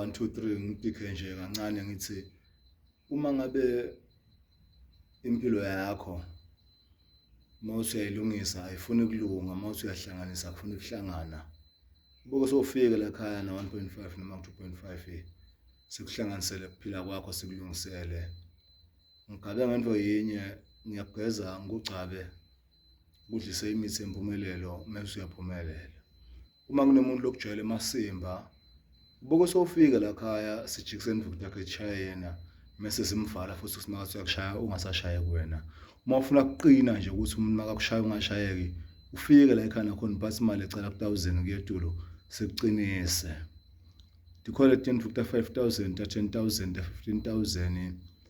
one two three ngidikhe nje kancane ngithi uma ngabe impilo yakho mawuthi uyayilungisa ayifuni kulunga mawuthi uyahlanganisa akufuni kuhlangana ubuke sofika la khaya na 1.5 noma 2.5 sikuhlanganisele kuphila kwakho sikulungisele ngigabe ngento yinye ngiyageza ngikugcabe kudlise imithi empumelelo mase uyaphumelela uma kunomuntu lokujwayela emasimba ubuke sofika la khaya sijikise emva ukuthi yakhe echaya yena mese simvala futhi ukuthi makathi uyakushaya ungasashaye kuwena uma ufuna kuqina nje ukuthi umuntu makakushaya ungashayeki ufike la ekhaya nakhona uphatha imali ecela ku-thousand kuyetulo sikuqinise ndikhole ten futhi ta-five thousand ta-ten thousand ta-fifteen thousand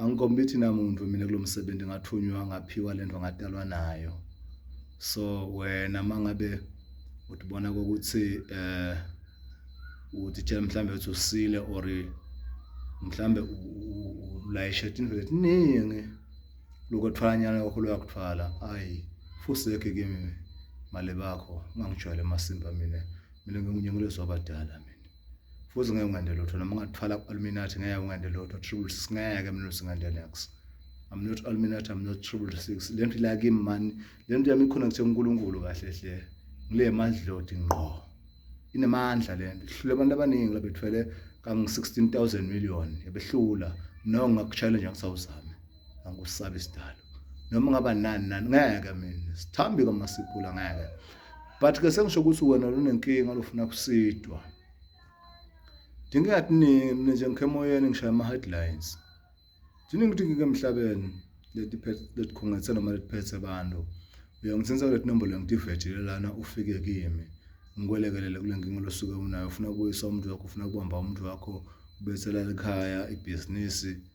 angikhompete namuntu mina kulomsebenzi ngathunywa ngaphiwa lento ngadalwa nayo so wena mangabe utibona ukuthi eh uthi tshela mhlambe uthi usile or mhlambe ulayishe into eziningi lokho thwanyana lokho loyakuthwala ayi fuseke kimi mali bakho ungangijwayele masimba mina mina ngingunyengulezwa abadala mina futhi ngeke ungende lutho noma ungathwala ku-illuminati ngeke ungende lutho triple six ngeke mina singende nex i'm not illuminati i'm not triple six le nto ila kimi mani le nto yami iconnecte unkulunkulu kahle hle ngile madlodi ngqo inemandla le nto ihlule abantu abaningi labethwele kangu-16 000 million yabehlula no ngakuchallenge ngisawuzame angusabi isidalo noma ngaba nani nani ngeke mina sithambi kwamasipula ngeke but ke sengisho ukuthi wena lunenkinga lofuna kusidwa dinga yathi nini nje ngikhemoyeni ngishaya ama headlines thina ngidingike emhlabeni leti leti khongethe noma leti phethe abantu uyangithinsa kule nombolo ngidivethile lana ufike kimi ngikwelekelele kule nkinga losuke unayo ufuna ukuyisa umuntu wakho ufuna kubamba umuntu wakho ubethela ekhaya ibhizinisi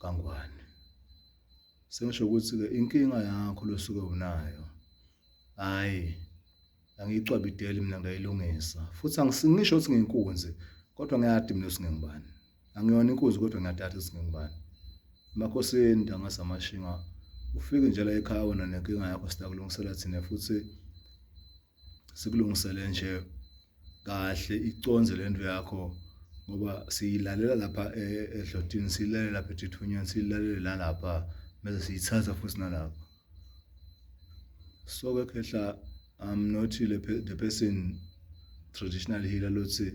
kaNgwane. Sengisho ukuthi-ke inkinga yakho losuke unayo, hhayi angiyicwabideli mina ngiyayilungisa. Futhi angisingisho ukuthi ngiyinkunzi, kodwa ngiyadi mina ukuthi ngingubani. Angiyona inkunzi kodwa ngiyadada ukuthi ngingubani. Emakhosini ntanga zamashinga, ufike nje la ekhaya wena nenkinga yakho sitakulungisela thina futhi sikulungisele nje kahle iconze lento yakho ngoba siyilalela lapha e, edlotini siyilalela lapha ethithunyeni siyilalele nalapha mase siyithatha futhi nalapha so ke khehla i'm not the person traditional healer lothi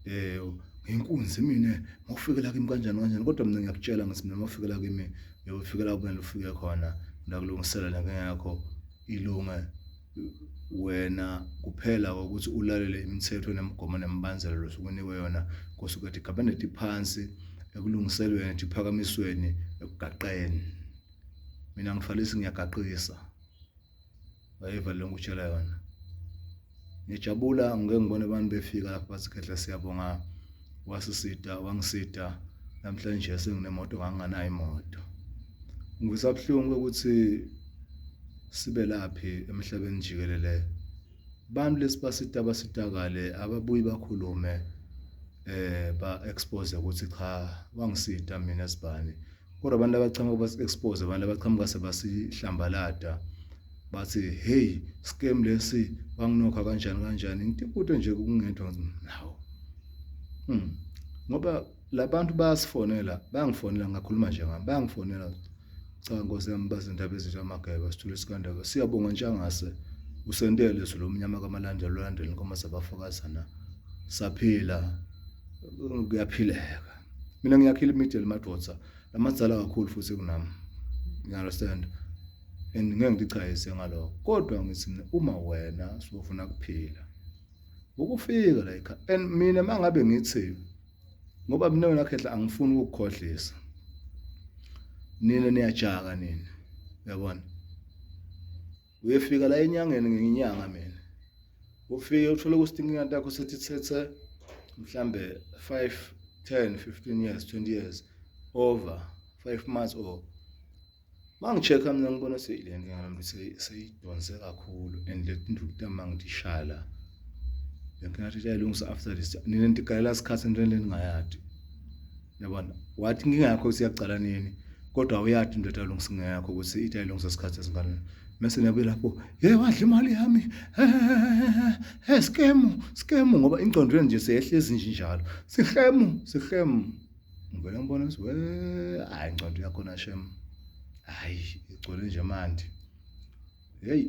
eh ngenkunzi mina ngokufika la kimi kanjani kanjani kodwa mina ngiyakutshela ngithi mina ngokufika la kimi ngiyofika la kumele ufike khona ndakulungisela la ngeyakho ilunga wena kuphela ukuthi ulalele imithetho nemigomo nemibandela losukunikwe yona kusuke ethi cabinet phansi ekulungiselweni ephakamisweni ekugaqeni mina ngifalisi ngiyagaqisa wayiva lonke utshela yona ngijabula ngeke ngibone abantu befika lapha basikhetha siyabonga wasisida wangisida namhlanje senginemoto nganganayo imoto ngivisa buhlungu ukuthi sibe laphi emhlabeni jikelele abantu lesibasita basitakale ababuyi bakhulume eh ba expose ukuthi cha wangisita mina sibani kodwa abantu abachamuka basi-expose abantu abachamuka sebasihlambalada bathi hey scam lesi banginokha kanjani kanjani ngitikude nje kungedwa nawo hmm ngoba labantu bayasifonela bayangifonela ngakhuluma nje ngami bayangifonela cha nkosi yami bazindaba ezinto amageba sithule isikandaba siyabonga ntshangase usentele izulu omnyama kamalandela olandela inkomo sabafakazana saphila kuyaphileka mina ngiyakhila imiddle madoda lamadzala kakhulu futhi kunami you understand and ngeke ngichayise ngaloko kodwa ngithi mina uma wena sofuna kuphila ukufika la ekhaya and mina mangabe ngithi ngoba mina wena khehla angifuni ukukhohlisa nina niyajaka nina uyabona Uyefika la enyangeni ngenyanga mina. Ufike uthole ukuthi inkinga yakho sethi thethe mhlambe 5 10 15 years 20 years over 5 months or mangichecka mina ngibona seyile nkinga nami seyidonse kakhulu and le ndukuta mangidishaya la le nkinga yathi iyayilungisa after this nina ndigalela isikhathi entweni leningayadi yabona wathi inkinga yakho usiyacala nini kodwa uyathi into ethalungisa inkinga yakho ukuthi ithi ayilungisa isikhathi esinganani mese niyabuye lapho ye wadla imali yami he skemu skemu ngoba ingqondo yenu nje seyehlezi nje njalo sihemu sihemu ngivele ngibona ukuthi we hayi ingqondo yakho na shem hayi igcwele nje manje heyi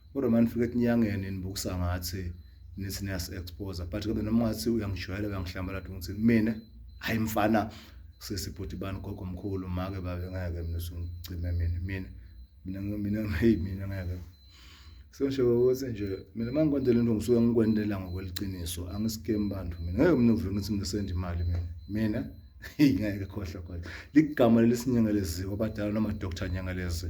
Kodwa manje nifike etinyangeni nibukusa ngathi nithi niyasi-exposa but kodwa noma ungathi uyangijwayela uyangihlambala nto ngithini mina hhayi mfana sisi bhuti bani gogo mkhulu make babe ngeke mina usungicime mina mina mina mina hey mina ngeke sengisho ukuthi nje mina uma ngikwendela into ngisuke ngikwendela ngokweliciniso angisikemi bantu mina ngeke mina uvuke ngithi ngisenda imali mina mina ngeke khohlwa khohlwa ligama lelisinyengelezi obadala noma doctor nyengelezi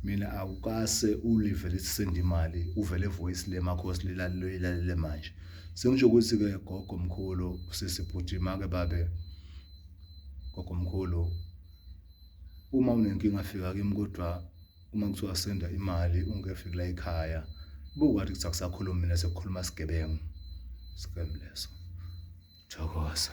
mina awukase ulive lisisenda imali uvele voice lemakhosi lilalele manje sengisho ukuthi ke gogo mkhulu sisi bhuti make babe gogo mkhulu uma unenkinga fika kimi kodwa uma kuthiwa senda imali ungekefiki la ekhaya buka wathi kuthi akusakhulumi mina sekukhuluma sigebengu scam leso thokoza